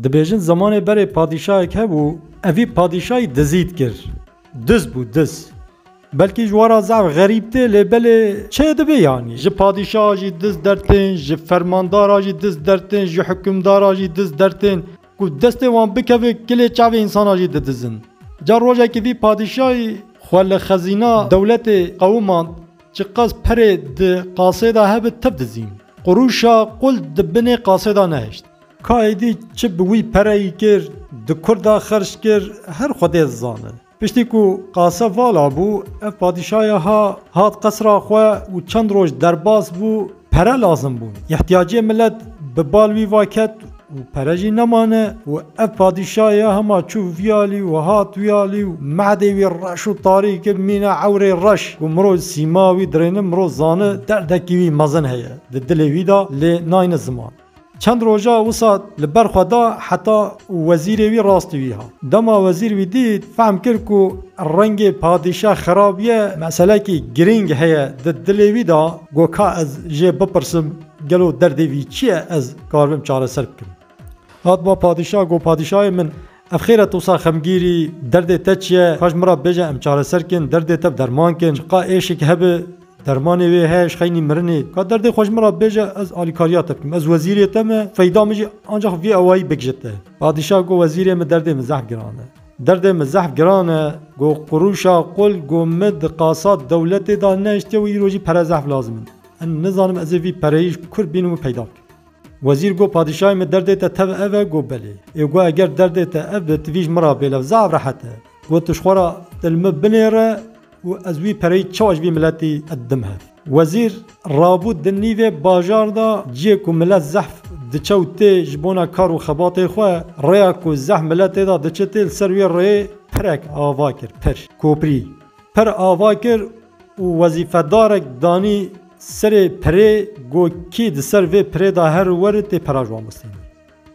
Dibêjin zemanê berê padîşayek hebû, evî padîşayî dizî dikir. Diz bû diz. Belkî ji wan re zaf xerîb tê lê belê çê dibê yanî. Ji padîşa jî diz dertên, ji fermandara jî diz dertên, ji hukimdara jî diz dertên. Ku destê wan bikeve kilê çavê însanan jî didizin. Ca rojekî vî padîşayî xwe li xezîna dewletê qewimand, çiqas perê di qasê de hebe tev dizîn. Qurûşa qul di binê qasê de nehişt. Ka êdî çi bi wî pereyî kir, di kur de xerc kir, her Xwedê dizane. Piştî ku Qase vala bû, ev padîşaya ha, hat qesra xwe û çend roj derbas bû, pere lazim bûn. Îhtiyacê milet bi bal wî va ket û pere jî nemane û ev padîşaya hema çû vî alî û hat wî alî û mehdê wî reş û tarî kir, mîna ewrê reş ku miro sîma wî dirêne, miro zane derdekî wî mezin heye di dilê wî de lê nayne ziman. Çend roja wisa li ber xwe da heta wezîrê wî rastî wî hat. Dema wezîr wî dît, fehm kir ku rengê padîşah xirab ye, meselekî girîng heye di dilê wî de, got ka ez jê bipirsim gelo derdê wî çi ye ez karibim çareser bikim. Hat ba padîşah got padîşahê min Ev xêr e tu wisa xemgîr î, derdê te çi ye, xwe ji min re bêje em çareser kin, derdê te bi derman kin, ji qal êşik hebe dermanê wê heye ji xeynî mirinê. Ka derdê xwe ji min re bêje ez alîkariya te bikim, ez wezîrê te me, feyda min jî ancax vî awayî bik ji te. Padîşah got wezîrê min derdê min zehf giran e. Derdê min zehf giran e, got qurûşa qul got min di qasa dewletê de nehiştiye û îro jî pere zehf lazim in. Em nizanim ez ê vî pereyê ji kur bînim û peyda bikim. Wezîr got, Padîşahê min derdê te tev ev e? Got, Belê. Ê got, Eger derdê te ev be, tivî ji min re bêlev zaf rehet e. Got, Tu ji xwe re dil min binêre û ez wî pereyî çawa ji vî miletî didim hev. Wezîr rabû di nîvê bajar de ciyê ku milet zehf diçe û tê ji bona kar û xebatê xwe. Rêya ku zehf milet tê de diçe tê li ser wê rêyê pirek ava kir, pir, koprî, pir ava kir û wezîfedarek danî Serê pirê go kî di ser vê pirê da her û wer ê tê pera ji wan bistînin.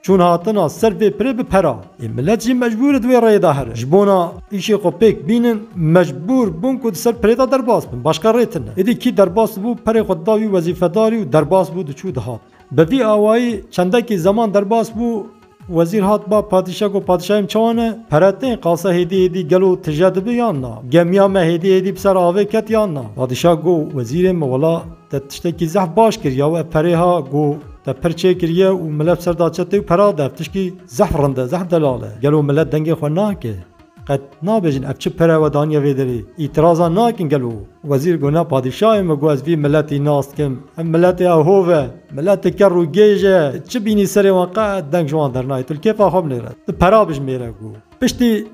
Çûn hatina ser vê pirê bi pera ê milet jî mecbûr e di wê rêyê da here. Ji bona îşê xwe pêk bînin mecbûr bûn ku di ser pirê da derbas bin. Başka rê tine. Êdî kî derbas dibû perê xwe dida wî wezîfedarî û derbas bû diçû dihat. Bi vî awayî çendekî zeman derbas bû. Wezîr hat ba padîşa got, Padîşayê min çawa ne? Pere tên, qasa hêdî hêdî gelo tije dibi yan na? Gemiya me hêdî hêdî bi ser avê ket yan na? Padîşa got, Wezîrê min wela te tiştekî zehf baş kir ya we perê ha go te pir çê kiriye û milet bi ser da çetê û pera dev tişkî zehf rind e, zehf delal e. Gelo milet dengê xwe nake? Qet nabêjin ev çi pere we daniye vê derê. Îtirazan nakin gelo? Wezîr got na padîşahê min ku ez vî miletî nas dikim. Ev miletê ew hov e. Miletê kerr û gêj e. Çi bînî serê wan qet deng ji wan dernayê. Tu li kêfa xwe binêre. Tu pera bijimêre ku. Piştî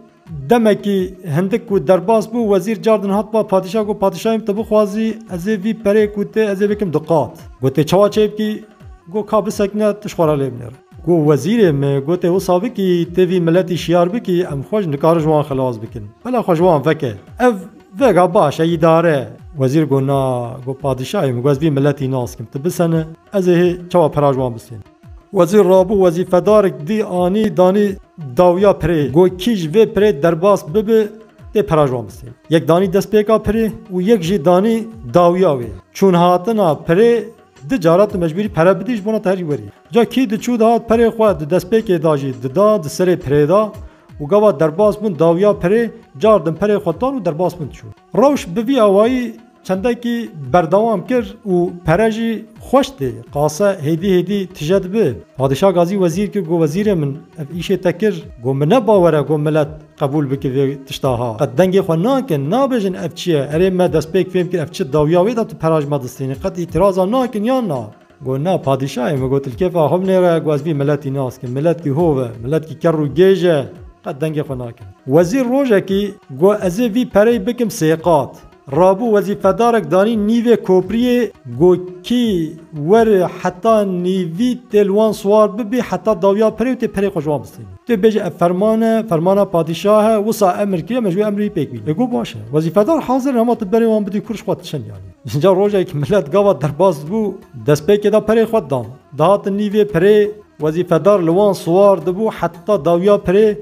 demekî hindik ku derbas bû wezîr car din hat ba padîşah got padîşahê min tu bixwazî ez ê vî perê ku tê ez ê bikim diqat. Gotê çawa çêbikî? Got ka bisekine tu ji xwe re lê binêre. Ku wezîrê me gotê wisa bikî, ti vî miletî şiyar bikî, em xwe ji nikarin ji wan xilas bikin. Bela xwe ji wan veke. Ev vega baş e, îdare e. Wezîr got na, got padîşahê min, got ez vî miletî naskim. Ti bisene, ez ê hê çawa pira ji wan bisênim. Wezîr rabû, wezîfedarik dî anî, danî dawiya pirê. Got kî ji vê pirê derbas bibe, tê pira ji wan bisêne. Yek danî destpêka pirê û yek jî danî dawiya wê. Çûn hatina pirê, di cara tu mecbûrî pere bidî, ji bona te herî werî ye. Ca kî diçû dihat pirê xwe di destpêkê da jî dida di serê pirê da û gava derbas bûn dawiya pirê cardin pirê xwe dan û derbas bûn diçûn. Rewş bi vî awayî çendekî berdewam kir û pere jî xweş tê. Qase hêdî hêdî tije dibe. Padîşah Gazî wezîr kir go wezîrê min ev îşê te kir go min ne bawer e go milet qebûl bike vê tişta ha. Qet dengê xwe nakin nabêjin ev çi ye erê me destpêk fêm kir ev çi dawiya wê da tu pera ji me distînî qet îtîraza nakin yan na. Got na padîşayê min got li kêfa xwe binêre ku ez vî miletî naskim. Miletkî hov e, miletkî kerr û gêj e, qet dengê xwe nakin. Wezîr rojekî got ez ê vî pereyê bikim sê qat. Rabû wezîfedarek danî nîvê kopriyê got kî were heta nîvî tê li wan siwar bibî heta dawiya perê û tê perê xwe ji wan bistînî. Tu bêje ev ferman e, fermana padîşah e, wisa emir kiriye me ji wê emrê wî pêk bînin. Ê got baş e. Wezîfedar hazir in hema tu berê wan bidî kûr ji xwe diçin yanî. Îcar rojek milet gava derbas dibû, destpêkê de pirê xwe didan. Dihatin nîvê pirê, wezîfedar li wan siwar dibû heta dawiya pirê,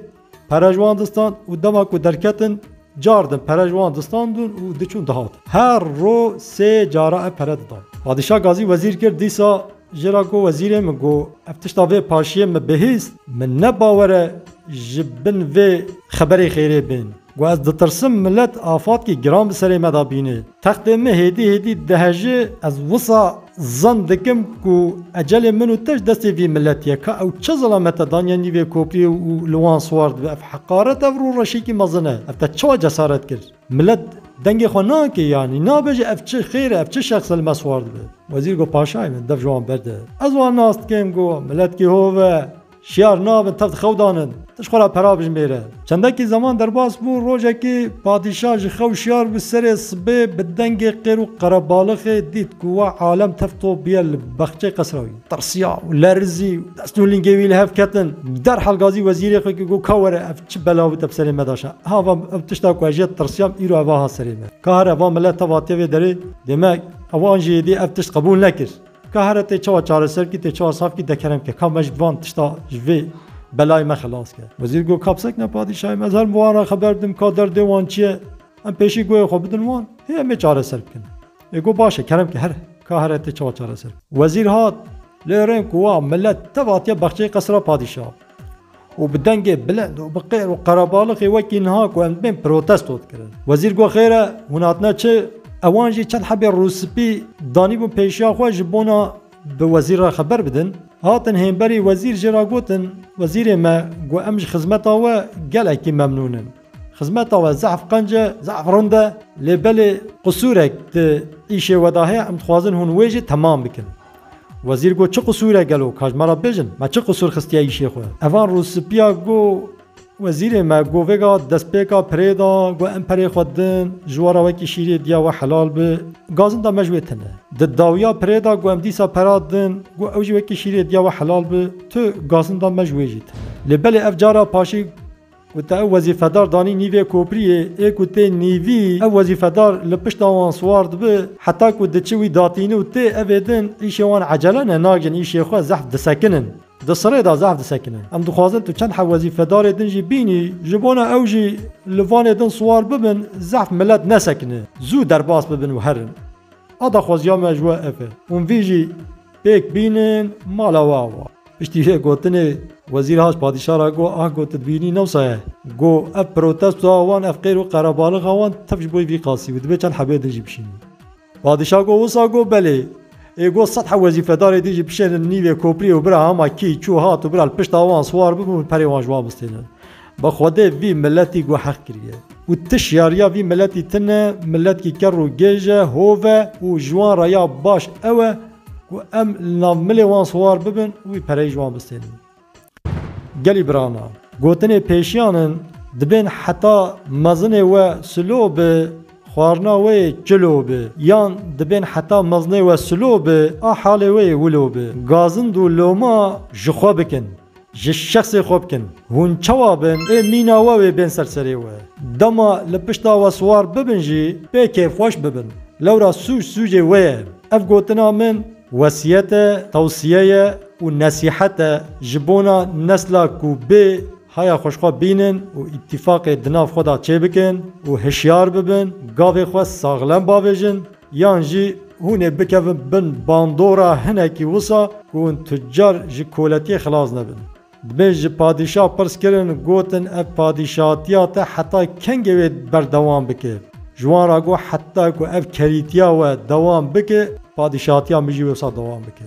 pere ji wan distand û dema ku derketin cardin pere ji wan distandin û diçûn dihatin. Her roj sê cara ev pere didan. Padîşah gazî wezîr kir dîsa jê re got, Wezîrê min got, ev tişta vê paşiyê min bihîst, min ne bawer e ji bin vê xeberê xêrê bên. Ku ez ditirsim milet afatkî giran bi serê me de bînê. Textê min hêdî hêdî dihejê, ez wisa zan dikim ku ecelê min û te ji destê vî miletî ye. Ka ew çi zilame te daniye nîvê kopî û li wan siwar dibe? Ev heqaret e vir û reşekî mezin e. Ev te çawa cesaret kir? Milet dengê xwe nake yanî nabe jî ev çi xêr e, ev çi şexs e li me siwar dibe? Wezîr got, Paşayê min dev ji wan berde. Ez wan nas dikim, got, Miletkî hov e, Şiyar nabin teft xew danin, tu ji xwe re pera bijimêre. Çendekî zeman derbas bû, rojekî padîşah ji xew şiyar bû serê sibê bi dengê qêr û qerebalixê dît ku wa alem tefto bûye li bexçeyê qesra wî. Tirsiya û lerizî û dest û lingê wî li hev ketin. Derhal gazî wezîrê xwe kir ku ka were ev çi bela bû te bi serê me daşa. Ha va ev tişta ku ez ji ya tirsiyam îro ev a hat serê me. Ka here va milet tevatiye vê derê dê me ew an jî êdî ev tişt qebûl nekir. Ka here tê çawa çareser kî tê çawa saf kî dekerem ke ka me ji van tişta ji vê belayê me xilas ke. Wezîr got ka bisekine padîşahê me ez herim bi wan re xeber didim ka derdê wan çi ye em pêşî goyê xwe bidin wan hê em ê çareser bikin. Ê got baş e kerem ke her ka here tê çawa çareser bikin. Wezîr hat lê rên ku wa milet tev hatiye bexçeyê qesira padîşaha. û bi dengê bilind û bi qêr û qerebalixê wekî niha ku em dibên protesto dikirin. Wezîr got xêr e hûn hatine çi? Ewan jî çend hebê rûspî danîbûn pêşiya xwe ji bona bi wezîr re xeber bidin. Hatin hênberî wezîr jê re gotin, Wezîrê me, got em ji xizmeta we gelekî memnûn in. Xizmeta we zehf qenc e, zehf rind e lê belê qisûrek di îşê we de heye em dixwazin hûn wê jî temam bikin. Wezîr got, Çi qisûr e gelo? Ka ji me re bêjin, me çi qisûr xistiye îşê xwe? Evan rûspîya got, Wezîrê me got, Vêga destpêka pirê da, got, Em perê xwe din, ji we re wekî şîrê diya we helal bi. Gazin da me ji wê tune. Di dawiya pirê da, got, Em dîsa pera din, got, Ew jî wekî şîrê diya we helal bi. Tu gazin da me ji wê jî tune. Lê belê ev cara paşê. Ku te ew wezîfedar danî nîvê kopriyê, ê ku tê nîvî, ew wezîfedar li pişta wan siwar dibe, heta ku diçe wî datîne û tê evê din, îşê wan ecele ne, nagin îşê xwe zehf disekinin. Di sirê de zehf disekinin. Em dixwazin tu çend hev wezîfedarê din jî bînî, ji bona ew jî li vanê din siwar bibin, zehf milet nesekine, zû derbas bibin û herin. A daxwaziya me ji we ev e. Hûn vî jî pêk bînin mala we awa. Piştî vê gotinê Wezîr Hac padîşah ra got, Ah got tu dibînî ne wisa ye. Got, ev protestoya wan, ev qêr û qerebalixa wan tev ji bo vî qasî bû. Dibê çend hebeyê din jî bişînin. Padîşah got, wisa got belê. Ê got sed heb wezîfedarê din jî bişênin nîvê kopriyê û bira hema kî çû hat û bira li pişta wan siwar bibin û perê wan ji wan bistênin. Bi xwedê vî miletî guheq kiriye û ti şiyariya vî miletî tine, miletkî ker û gêj e, hov e û ji wan re ya baş ew e ku em li nav milê wan siwar bibin û wî pereyî ji wan bistênin. Gelî birana, gotinê pêşiyan in, dibên heta mezinê we silo bi, xwarina we yê çilo bi yan dibên heta mezinê we silo bi, a halê we yê wilo bi. Gazind û loma ji xwe bikin. Ji şexsê xwe bikin. Hûn çawa bin ê mîna we wê bên ser serê we. Dema li pişta we siwar bibin jî pê kêfxweş bibin. Lewra sûc sûcê we ye. Ev gotina min wesiyet e, tewsiye ye û nesîhet e ji bona nesla ku bê haya xwe ji xwe bînin û îtîfaqê di nav xwe de çêbikin û hişyar bibin, gavê xwe saxlem bavêjin, Yan jî hûn ê bikevin bin bandora hinekî wisa ku hûn tucar ji koletiyê xilas nebin. Dibê ji padîşah pirs kirin, gotin ev padîşahatiya te heta kengê wê berdewam bike? Ji wan re got heta ku ev kerîtiya we dewam bike, padîşahatiya min jî wisa dewam bike.